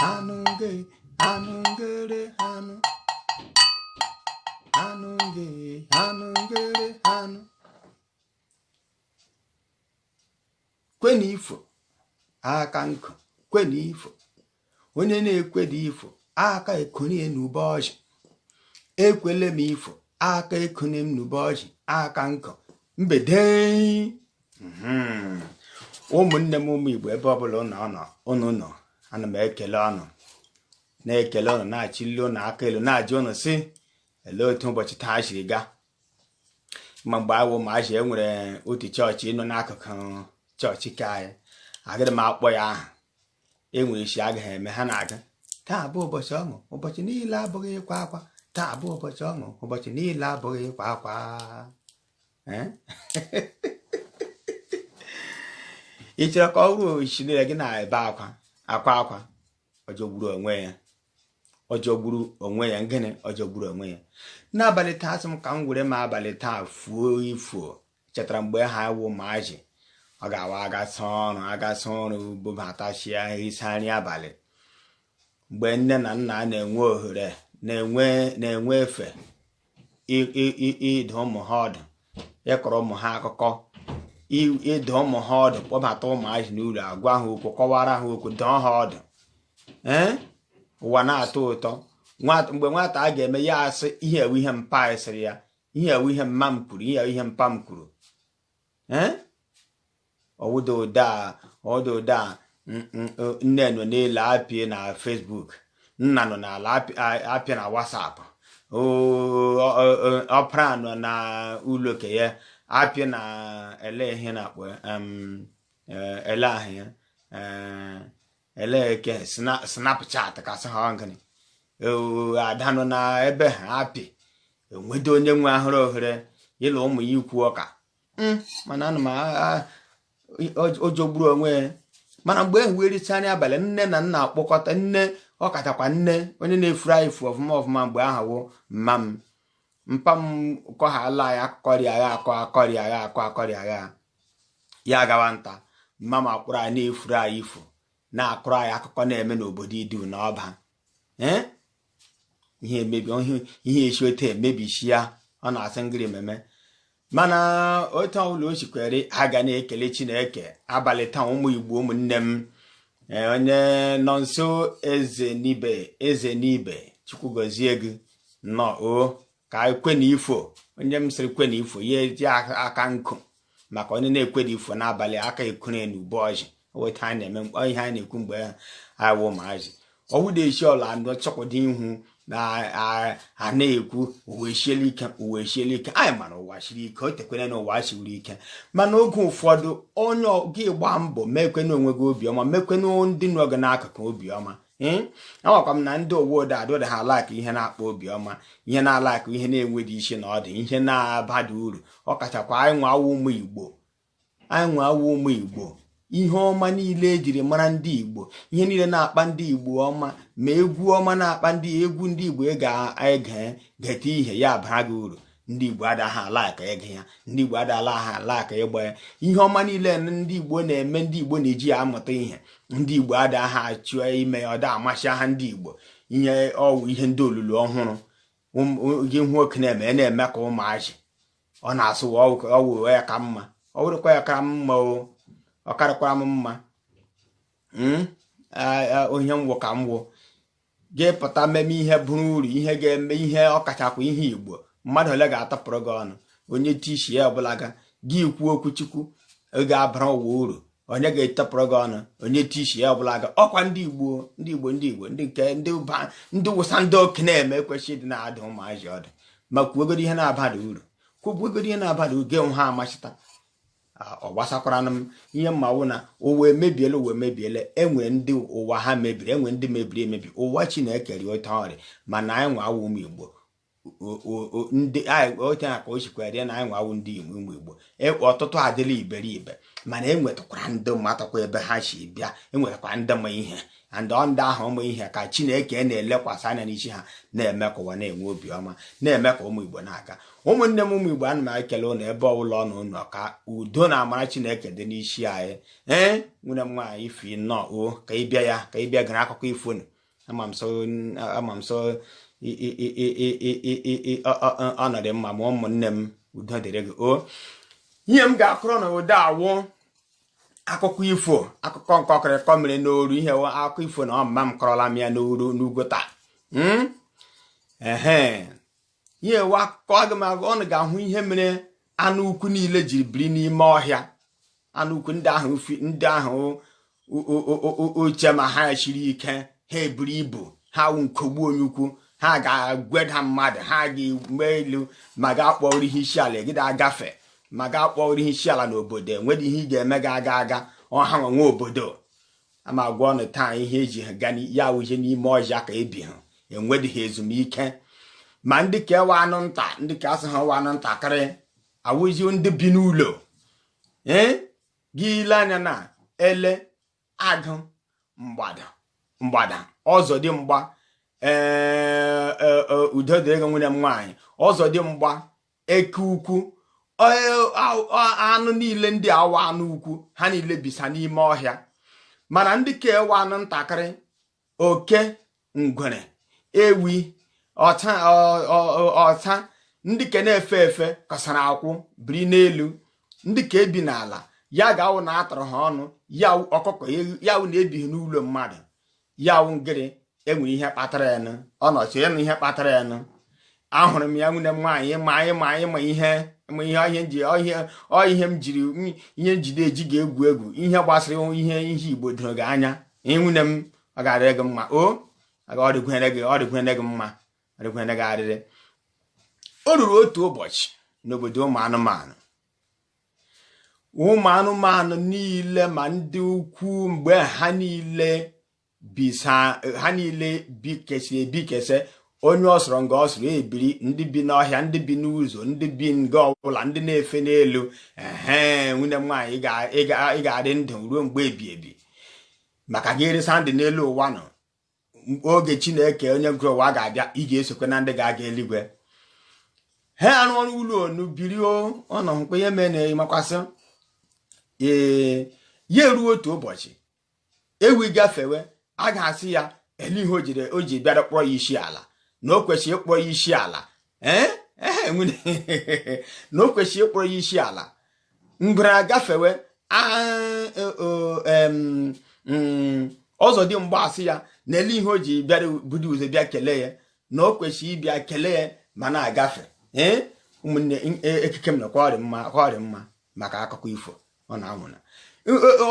anụ nge anụ ngere anụ anụ nge anụ ngere anụ kwenu ifo aka nkụ kwenu ifo onye na-ekweda ifo aka ekonie n'ube ọjị ekwele m ifo aka ekonie m n'ube ọjị aka nkụ mgbede hmm. ụmụnne m ụmụ Igbo ebe ọbụla ụnụ nọ ana m ekele ụnụ na-ekele ụnụ na-achịli ụnụ aka elu na-ajụ ụnụ sị ele otu ụbọchị taa siri gaa ma mgbe a wụ ụmụazị e nwere otu chọọchị nọ n'akụkụ chọọchị ke anyị agaghị m akpọ ya aha enwe isi agaghị eme ha na-agụ taa bụ ụbọchị ọṅụ ụbọchị niile abụghị ịkwa akwa taa bụ ụbọchị ọṅụ ụbọchị niile abụghị ịkwa akwa eh? ị chọrọ ka ọ ruo chi niile gị na-ebe akwa akwa akwa ọjọgburu onwe ya ọjọgburu onwe ya gịnị ọjọgburu onwe ya n'abalị taa asị m ka m were m abalị taa fuo ifo chetara mgbe a wụ ụmụazị ọ ga-awa a gasịa ọrụ a gasịa ọrụ bụbatachia sie nri abalị mgbe nne na nna na-enwe ohere na-enwe na-enwe efe ịdụ ụmụ ha ọdụ ịkọrọ ụmụ ha akụkọ ịdụ ụmụ ha ọdụ kpọbata ụmụazị n'ụlọ agwa ha okwu kọwara ha okwu dụọ ha ọdụ ee ụwa na-atọ ụtọ mgbe nwata a ga-eme ya asị ihe a wụ ihe mpa sịrị ya ihe a wụ ihe mma m kwuru ihe a wụ ihe mpa m kwuru ee ọ wụda ụda ọ wụda ụda nne nọ n'elu apịa na Facebook nna nọ n'ala apịa na WhatsApp ọpara nọ na ụlọ ke ya apịa na ele ihe a na-akpọ ihe ahụ ya ele eke Snapchat ka a sị ha ọ gịnị ada nọ na ebe ha apị o nwedu onye nwe ahụrụ ohere ya na ụmụ ya ikwu ụka hmm, mana ana m ọjọgburu onwe ya mana mgbe e wee richaa nri abalị nne na nna akpọkọta nne ọ kachakwa nne onye na-efuru anyị ifo ọfụma ọfụma mgbe ahụ wụ mma m mpa m kọhala ya akọrị agha akọ akọrị agha akọ akọrị agha ya gawa nta mma m akpọrọ anyị na-efuru anyị ifo na-akọrọ anyị akụkọ na-eme n'obodo idu na ọba ee ihe emebi ihe si otu a mebichaa ọ na-asị m gịrị meme mana otu ọbụla o sikwere a ga na-ekele chineke abalị taa ụmụ igbo ụmụnne m e, onye nọ nso eze n'ibe eze n'ibe chukwu gọzie gị nnọọ o ka ekwe na ifo onye m sịrị kwe na ifo ya eji aka nkụ maka onye na-ekwe na ifo n'abalị aka ekure na ube ọjị weta anyị na-eme mkpọ ihe anyị na-ekwu mgbe awụ maazị ọwụ na-echi ọla ndụ chọkwado ihu na a na-ekwu ụwa siele ike ụwa siele ike anyị ma na ụwa siri ike o tekwere na ụwa siri ike mana oge ụfọdụ onye gị gbaa mbọ mekwenụ onwe gị obiọma mekwenụ ndị nọ gị n'akụkụ obiọma hmm? amakwa m na ndị ụwa ụda adịda ha alike ihe na-akpa obiọma ihe na-alike ihe na-enweghị isi na ọdụ ihe na-abada uru ọ kachakwa anyị nwa wụ ụmụ igbo anyị nwa wụ ụmụ igbo ihe ọma niile ejiri mara ndị igbo ihe niile na-akpa ndị igbo ọma ma egwu ọma na-akpa egwu ndị igbo ị ga-ege gete ihe ya bara gị uru ndị igbo adaghị alike ige ya ndị igbo adaghị alike ịgba ya ihe ọma niile ndị igbo na-eme ndị igbo na-eji ya amụta ihe ndị igbo adaghị achọ ime ya ọda amasị ha ndị igbo ihe ọ wụ ihe ndị olulu ọhụrụ gị hụ oke na-eme na-eme ka ụmụazị ọ na-asị ọ wụ ya ka mma ọ wụrụkwa ya ka mma o ọ karịkwara m mma hmm? onye m wụ ka m wụ gị pụta mmemme ihe bụrụ uru ihe ga-eme ihe ọkachakwa ihe igbo mmadụ ole ga-atụpụrụ gị ọnụ onye tishi ya ọbụla ga gị kwuo okwu chukwu ga-abara ụwa uru onye ga-atụpụrụ gị ọnụ onye tishi ya ọbụla ga ọkwa ndị igbo ndị igbo ndị igbo ndị nke ndị ụba ndị wụsa ndị oke na-eme kwesị ịdị na-adụ ụmụazị ọdụ ma kwuogodu ihe na-abada uru kwuogodu ihe na-abada uru gị nwe ha amachita ọ gbasakwaranụ m ihe m ma wụ na ụwa emebiela ụwa emebiela enwe ndị ụwa ha mebiri enwe ndị mebiri emebi ụwa chineke rị ote ọ rị mana anyị nwa wụ ụmụ igbo ndị ote a ka o sikwa rị na anyị nwa wụ ndị igbo ụmụ igbo e, ọtụtụ adịla iberibe mana enwetakwara ndị matakwa ebe ha si bịa enwetakwara ndị ma ihe and ndị ahụ ma ihe ka chineke na-elekwasị anya n'isi ha na-eme ka ụwa na-enwe obiọma na-eme ka ụmụ igbo na-aga ụmụnne m ụmụ igbo ana m ekele ụnụ ebe ọbụla ụnụ nọ ka udo na amara chineke dị n'isi anyị ee nwunye m nwaanyị ify nnọọ o ka ị bịa ya ka ị bịa gere akụkọ ifo nụ ama m sị ọ nọdụ mma ma ụmụnne m udo dịrị gị o ihe m ga-akọrọ ụnụ ụda wụ akụkọ ifo akụkọ nkọkịrịkọ mere n'oru ihe akụkọ ifo na ọmụma m kọrọla m ya n'oru n'ugwu taa hmm? ehe ihe wụ akụkọ aga m akọ ụnụ ga-ahụ ihe mere anụ ukwu niile jiri biri n'ime ọhịa anụ ukwu ndị ahụ ndị ahụ ị che ma ha siri ike ha buru ibu ha wụ nkogbu onye ukwu ha ga-agweda mmadụ ha ga-egbu elu ma ga-akpọrọ ihe isi ala egide agafe ma gaa kpọrọ ihe isi ala n'obodo enwedịghị ihe ị ga-eme ga aga aga ọha nwe obodo a m agwa unu taa ihe eji ha ga ya awụje n'ime ọhịa ka ebi ha enwedịghị ezumike ma ndị ke wụ anụ nta ndị ke a sị ha wụ anụ ntakịrị awụzi ndị bi n'ụlọ ee gị ile anya na ele agụ mgbada ọzọdimgba ee e, e, udo dịrị gị nwunye m nwaanyị ọzọdimgba eke ukwu anụ niile ndị a wụ anụ ukwu ha niile bisa n'ime ọhịa mana ndị ke wụ anụ ntakịrị oke ngwere ewi ọsa ndị ke na-efe efe kpasara akwụ biri n'elu ndị ke bi n'ala ya ga-awụ na atụrụ ha ọnụ ya ọkụkọ ya wụ na ebighị n'ụlọ mmadụ ya wụ ngịrị enwere ihe kpatara ya nụ ọ nọchi ya na ihe kpatara ya nụ ahụrụ m ya nwunye m nwaanyị ma ihe m jiri ihe njide eji gị egwu egwu ihe gbasara ihe ihe igbo doro gị anya ehe nwunye m ọ ga-adịrị gị mma ọ dịkwere gị mma ọ dịkwere gị arịrị o ruru otu ụbọchị n'obodo ụmụ anụmanụ ụmụ anụmanụ niile ma ndị ukwu mgbe ha niile bisa ha niile bikesi ebikese onye ọ sọrọ nga ọ sọrọ ebiri ndị bi n'ọhịa ndị bi n'ụzọ ndị bi nga ọbụla ndị na-efe n'elu ehe nwunye m nwaanyị ị ga-arị ndụ ruo mgbe ebi ebi maka gị arịsa ndụ n'elu ụwa nụ oge chineke onye kere ụwa ga-abịa ị ga-esokwe na ndị ga-aga eluigwe ha arụ ọrụ ụlọ onu biri ọnọ mkpe ihe mee na makwasị ee ya eruo otu ụbọchị ewi gafewe agụ asị ya ele ihe o ji bịara kpọrọ ya isi ala na o kwesịrị ịkpọrọ ya isi ala ee ehe na o kwesịrị ịkpọrọ ya isi ala ngwere agafewe e, mm, ọzọdimgba asị ya na ele ihe o ji bịara budo ụzọ bịa kelee ya na o kwesịrị ịbịa kelee ya ma na-agafe ee ụmụnne e, ekike m makwarị mma maka akụkọ ifo ọ na-anwụna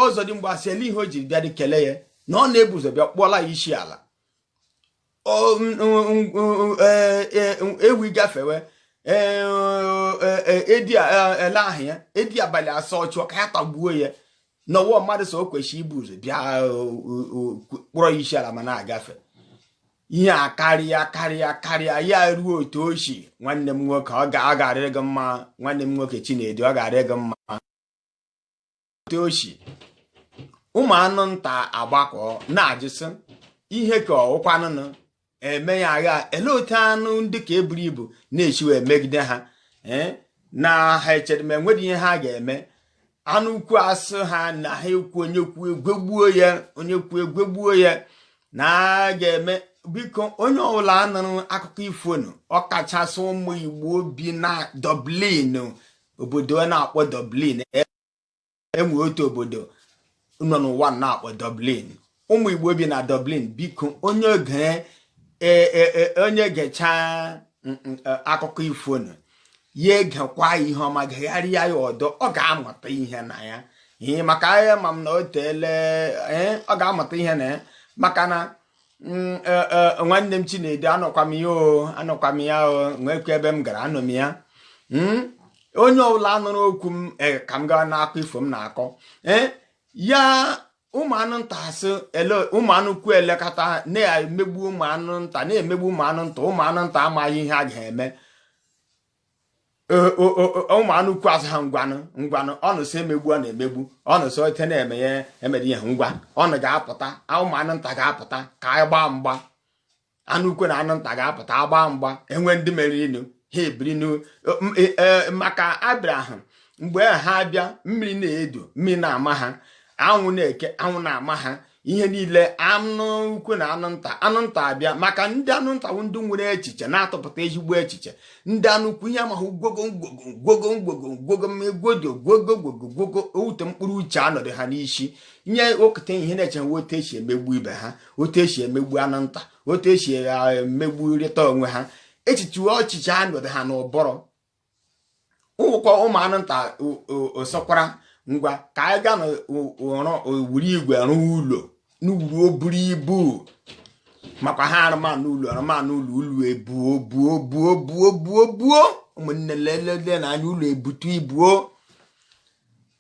ọzọdimgba asị ele ihe o ji abịadịghị kelee ya na ọ na-ebu ụzọ bịa kpọọla ya isi ala ewi gafewe ele ahụ ya edi abalị asọ chọọ ka ya tagbuo ya na ọ wụ mmadụ so o kwesịrị ibu ụzọ bịa kpọrọ ya isi ala ma na-agafe ihe a karịa karịa karịa ya ruo otu ụbọchị nwanne m nwoke ọ ga-arịrị gị mma nwanne m nwoke Chinedu ọ ga-arịrị gị mma ụbọchị ụmụ anụ nta agbakọ na-ajụsị ihe ka ọ wụkwanụ nụ eme ya agha ele otu anụ ndị ka eburu ibu na-esi wee emegide ha eh, na ha echere ma e nwere ihe ha ga-eme anụ ukwu asị ha na ha ekwu onye kwuo egwegbuo ya onye kwuo egwegbuo ya na a ga-eme biko onye ọbụla nụrụ akụkọ ifo nụ ọkachasị ụmụ Igbo bi na Dublin obodo a na-akpọ Dublin e nwe otu obodo nọ n'ụwa a na-akpọ Dublin ụmụ Igbo bi na Dublin biko onye oge e, e, e, onye gechaa mm, mm, akụkọ ifo nụ ya egekwa ihe ọma gegharịa ya ọdọ ọ ga-amụta ihe na ya ihe maka ahịa ma m na o teele ọ ga-amụta ihe na ya maka na mm, e, e, nwanne m Chinedu anụkwa m ya o anụkwa m ya o nwekwa ebe m gara anụ m ya hmm? onye ọbụla nụrụ okwu m e, ka m gaa n'akụkọ ifo m na-akọ eh? ya ụmụ anụ nta asị ele ụmụ anụ ukwu elekata na-emegbu ụmụ anụ nta na-emegbu ụmụ anụ nta ụmụ anụ nta amaghị ihe a ga-eme ụmụ anụ ukwu asị ha ngwanụ ngwanụ unu sị emegbu a na-emegbu unu sị otu a na-eme ya emere ihe ngwa unu ga-apụta ụmụ anụ nta ga-apụta ka anyị gbaa mgba anụ ukwu na anụ nta ga-apụta agbaa mgba e nwee ndị meriri nụ ha ebiri e, e, maka ọ bụrụ ha mgbe ha abịa mmiri na-edo mmiri na-ama ha anwụ na-eke anwụ na-ama ha ihe niile anụ ukwu na anụ nta anụ nta abịa maka ndị anụ nta bụ ndị nwere echiche na-atụpụta ezigbo echiche ndị anụ ukwu ihe ha ma wụ gwogo gwogo gwogo gwogo mmegwodo gwogo gwogo gwogo ọ wụ otu mkpụrụ uche anọdụ ha n'isi nye okụta ihe ha na-eche wụ otu esi emegbu ibe ha otu esi emegbu anụ nta otu esi emegburịta onwe ha echiche ọchịchị anọdụ ha n'ụbụrụ wụkwa ụmụ anụ nta sịkwara ngwa ka anyị gaa n'ọrụ were igwe rụọ ụlọ n'uru o buru ibu makwa ha arụmanụ ụlọ arụmanụ ụlọ ụlọ ebuo buo buo buo buo buo ụmụnne lelele na anya ụlọ ebutu ibu o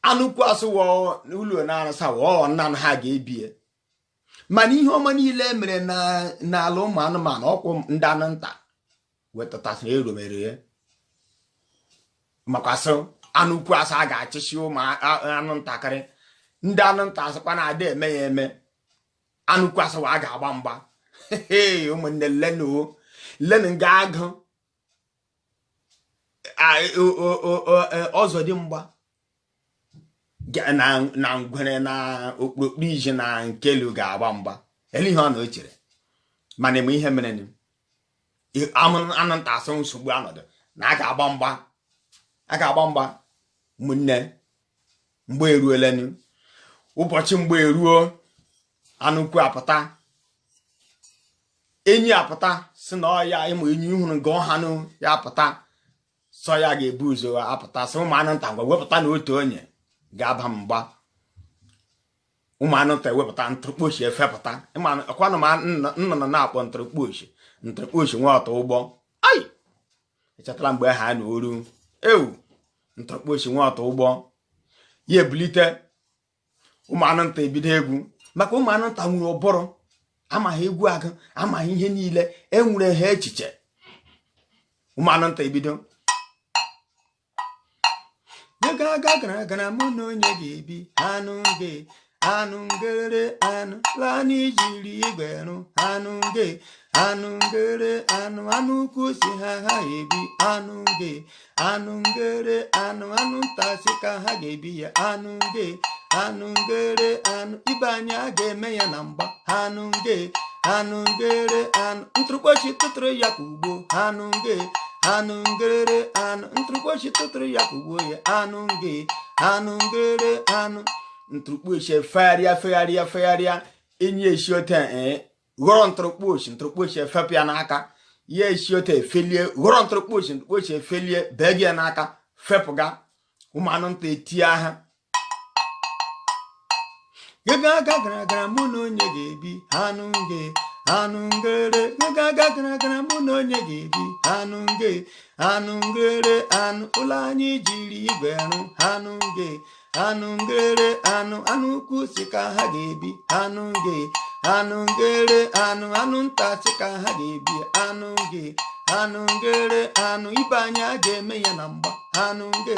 anụ ukwu asị ụlọ a na-arụsa wụ naanị ha ga-ebie mana ihe ọma niile e mere n'ala ụmụ anụmanụ ọ kwa ndị anụ nta wetatasị aro e mere ya maka sị anụ ukwu asị a ga-achịsi ụmụ anụ ntakịrị ndị anụ nta asịkwa na ada eme ya eme anụ ukwu asịwa a ga-agba mgba ụmụnne leenụ leenụ nga agụ ọzọdimgba na ngwere na okpokpo iji na nkelu ga-agba mgba ele ihe unu chere ma unu ma ihe mere anụ nta asị nsogbu anọdụ na a ga-agba mgba a ga-agba mgba ụmụnne mgba eruolanụ ụbọchị mgba eruo anụ ukwu apụta enyi apụta si na ọ ya ị ma enyi hụrụ ka ọ hanụ ya apụta sị ọ ya ga-ebu ụzọ apụta sị ụmụ anụ nta ngwa wepụtanụ otu onye ga-agba mgba ụmụ anụ nta ewepụta ntụrụkpochi efepụta ọkwa unu ma nnụnụ a na-akpọ ntụrụkpochi ntụrụkpochi nwa ọtụ ụgbọ ai i chetala mgbe ha na oru ewu ntụrụkpochi nwa ọtụ ụgbọ ya ebilite ụmụ anụ nta ebido egwu maka ụmụ anụ nta nwere ụbụrụ ama ha egwu agụ ama ha ihe niile enwere ha echiche ụmụ anụ nta ebido ga-aga gara gara mụ na onye ga-ebi anụ nge anụ ngere anụ ụlọ anyị jiri igwe rụ anụ nge anụ ngere anụ anụ ukwu si ha ga-ebi anụ nge anụ ngere anụ anụ nta si ka ha ga-ebi ya anụ nge anụ ngere anụ ibe anyị a ga-eme ya na mgba anụ nge anụ ngere anụ ntụrụkpochi tụtụrụ ya ka ụgbọ anụ nge anụ ngere anụ ntụrụkpochi tụtụrụ ya ka ụgbọ ya anụ nge anụ ngere anụ ntụrụkpochi efegharịa fegharịa fegharịa enyi esi ote ee ghọrọ ntụrụkpochi ntụrụkpochi efepụ ya n'aka ya esi ote efelie ghọrọ ntụrụkpochi ntụrụkpochi efelie bee gị ya n'aka fepụga ụmụ anụ nta etie ha ego aga gara gara mụ na onye ga-ebi anụ nge anụ ngere ego aga gara gara mụ na onye ga-ebi anụ nge anụ ngere anụ ụlọ anyị jiri igwe rụ anụ nge anụ ngere anụ anụ ukwu si ka ha ga-ebi anụ nge anụ ngere anụ anụ nta si ka ha ga-ebi anụ nge anụ ngere anụ ibe anyị a ga-eme ya na mgba anụ nge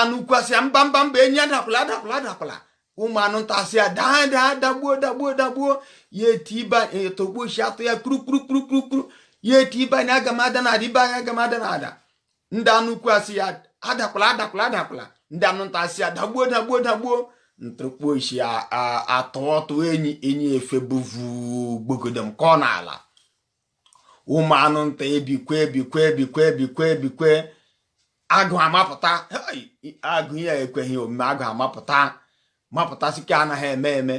anụ ukwu asị ya mba mba mba enyi adakwala adakwala adakwala ụmụ anụ nta asị ya daa daa dagbuo dagbuo dagbuo ya eti ibe ntụrụkpochi atụ ya kpuru kpuru kpuru kpuru kpuru ya etie ibe anyị aga m ada na ada ibe anyị aga m ada na ada ndị anụ ukwu asị ya adakwala adakwala adakwala ndị anụ nta asị ya dagbuo dagbuo dagbuo ntụrụkpochi atụọ tụọ enyi enyi efe bụvu gbogodom kụọ n'ala ụmụ anụ nta ebikwe ebikwe ebikwe ebikwe ebikwe agụ amapụta agụ ya ekweghị omume agụ amapụta mapụta sị nke a anaghị eme eme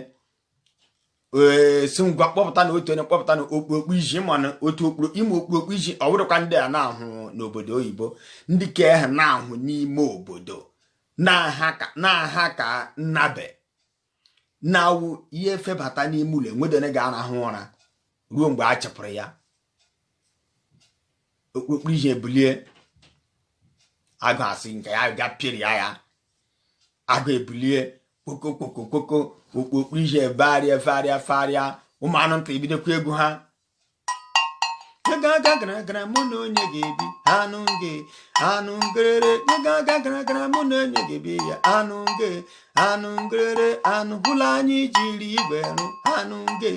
ee si ngwa kpọpụtanụ otu onye kpọpụtanụ okpokpu iji mana otu okpuru ime okpokpu iji ọ bụghịkwa ndị a na-ahụ n'obodo oyibo ndị nke a na-ahụ n'ime obodo na-aha ka nnabe na awụ ihe febata n'ime ụlọ enwedone ga-arahụ ụra ruo mgbe a chịpụrụ ya okpokporo iji ebulie agụ asị nke ya ga pịrị ya agụ ebulie kpokokpokokpoko okpokporo iji farịa farịa farịa ụmụ anụ nta ebidokwa egwu ha gaga gara gara mụ na onye ga-ebi anụ nge anụ ngerere gaga gara gara mụ na onye ga-ebi ya anụ nge anụ ngerere anụ ụlọ anyị jiri igwe rụ anụ nge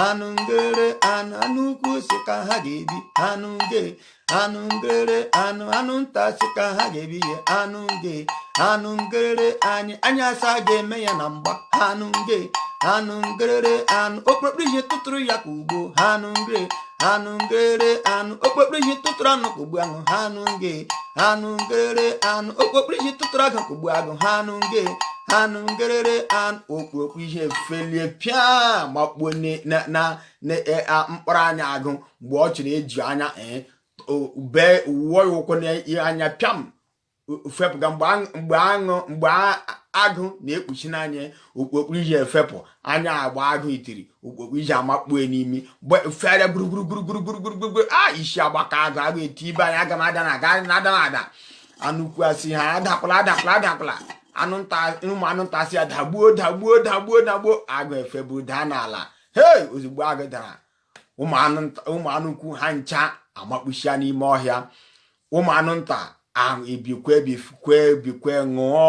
anụ ngerere anụ anụ ukwu sị ka ha ga-ebi anụ nge anụ ngerere anụ anụ nta sị ka ha ga-ebi ya anụ nge anụ ngerere anyị anyị asị a ga-eme ya na mgba anụ nge anụ ngerere okpokporo iji tụtụrụ ya kụgbuo anụ nge anụ ngerere okpokporo iji tụtụrụ anụ kụgbuo anụ anụ nge anụ ngere anụ okpokporo ihe tụtụrụ agụ ka ugbo agụ anụ nge anụ ngerere okpokporo iji felie pịa makpuo na mkpụrụ anya agụ mgbe ọ chịrị eji anya ee eh, bee uwe ya ụkwụ n'anya pịam fepụga mgbe agụ mgbe agụ na-ekpuchi n'anya okpokporo iji efepụ anya agba agụ itiri okpokporo iji amakpue n'imi fere gburugburu a isi agbaka agụ agụ etie ibe anyị aga m ada na ada na ada anụ ukwu asị ya adapụla adapụla adapụla anụ nta ụmụ anụ nta asị ya dagbuo dagbuo dagbuo dagbuo agụ efeburu daa n'ala hei ozugbo agụ dara ụmụ anụ ukwu ha ncha amakpuchia n'ime ọhịa ụmụ anụ nta ahụ ebikwe bikwe bikwe ṅụọ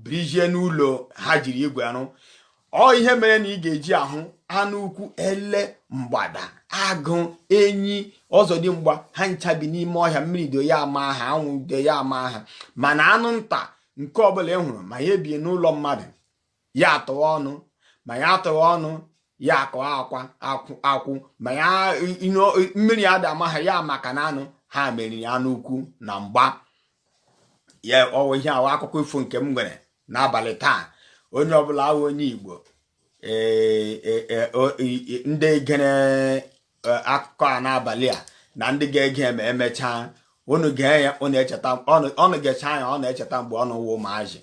birijie n'ụlọ ha jiri igwe rụ ọ ihe mere na ị ga-eji ahụ anụ ukwu ele mgbada agụ enyi ọzọdimgba ha ncha bi n'ime ọhịa mmiri do ya ama ha anwụ do ya ama ha mana anụ nta nke ọbụla ị hụrụ ma ya ebie n'ụlọ mmadụ ya atụwa ọnụ ma ya atụwa ọnụ ya akọ akwa akwụ ma ya mmiri ada ama ha ya maka na anụ ha meriri anụ ukwu na mgba ya ọ wụ ihe a wụ akụkọ ifo nke m nwere n'abalị taa onye ọbụla wụ onye igbo e, e, e, ndị gere e, akụkọ a n'abalị a na ndị ga-ege ma emechaa unu gee ya unu echeta unu gechaa ya unu echeta mgbe unu wụ ụmụazị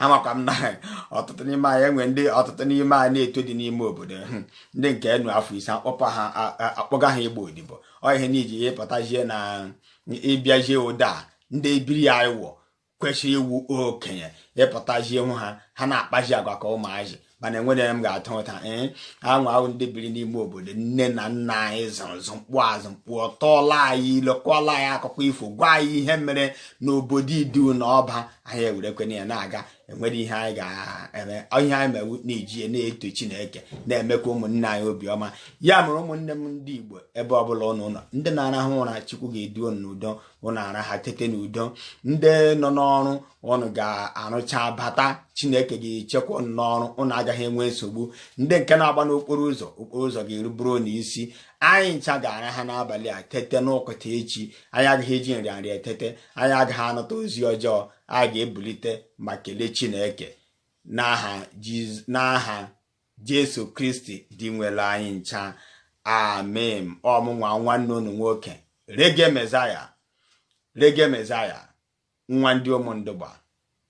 amakwa m na ọtụtụ n'ime anyị enwe ndị ọtụtụ n'ime anyị na-eto dị n'ime obodo hmm, ndị nke eru afọ ise akpọpụ ha akpọga ha ịgba odibo ọ ihe n'iji ya ịpụtazie na ịbịazie ụda ndị ebiri anyị wọ kwesịrị iwu okenye ị pụtazie hụ ha ha na-akpazi agwa ka ụmụazị mana enwere m ga-ata ụta ee anwụ ahụ ndị biri n'ime obodo nne na nna anyị zụrụ mkpụ azụ mkpụ ọtọọla anyị ilekọla anyị akụkọ ifo gwa anyị ihe mere n'obodo idu na ọba anyị ewerekwena ya na-aga enwere ihe anyị ga-eme ihe anyị mewu na-eji na-eto chineke na-emekwa ụmụnne anyị obiọma ya mere ụmụnne m ndị igbo ebe ọbụla ụnụ nọ ndị na-arahụ ụra chukwu ga-edu unu n'udo ụnụ araha tete n'udo ndị nọ n'ọrụ ụnụ ga-arụcha bata chineke ga-echekwa ụnụ n'ọrụ ụnụ agaghị enwe nsogbu ndị nke na-agba n'okporo ụzọ okporo ụzọ ga-eruburu ụnụ isi anyị ncha ga-araha n'abalị a tete n'ụtụtụ echi anyị agaghị eji nrịanrịa etete anyị agaghị anụta ozi ọjọọ anyị ga-ebulite ma kelee chineke n'aha Jesu Kristi dinwenụ anyị ncha amen ọ mụnwa nwanne unu nwoke Reggae Messiah Reggae Messiah nwa ndị Ụmụndụgba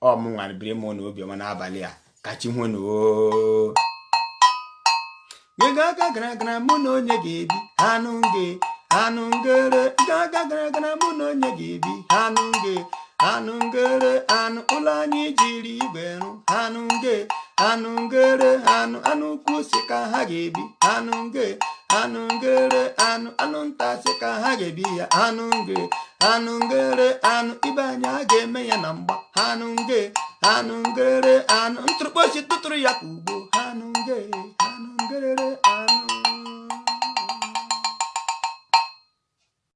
ọ mụnwa biri m na obiọma n'abalị a ka chi ho nụ oo gaga gara gara mụ na onye ga-ebi anụ nge anụ ngere gaga gara gara mụ na onye ga-ebi anụ nge anụ ngere anụ ụlọ anyị jiri igwe rụ anụ nge anụ ngere anụ anụ ukwu sị ka ha ga-ebi anụ nge anụ ngere anụ anụ nta sị ka ha ga-ebi ya anụ nge anụ ngere anụ ibe anyị a ga-eme ya na mgba anụ nge anụ ngere anụ ntụrụkpọchi tụtụrụ ya ka ugbo anụ nge anụ ngerere anụ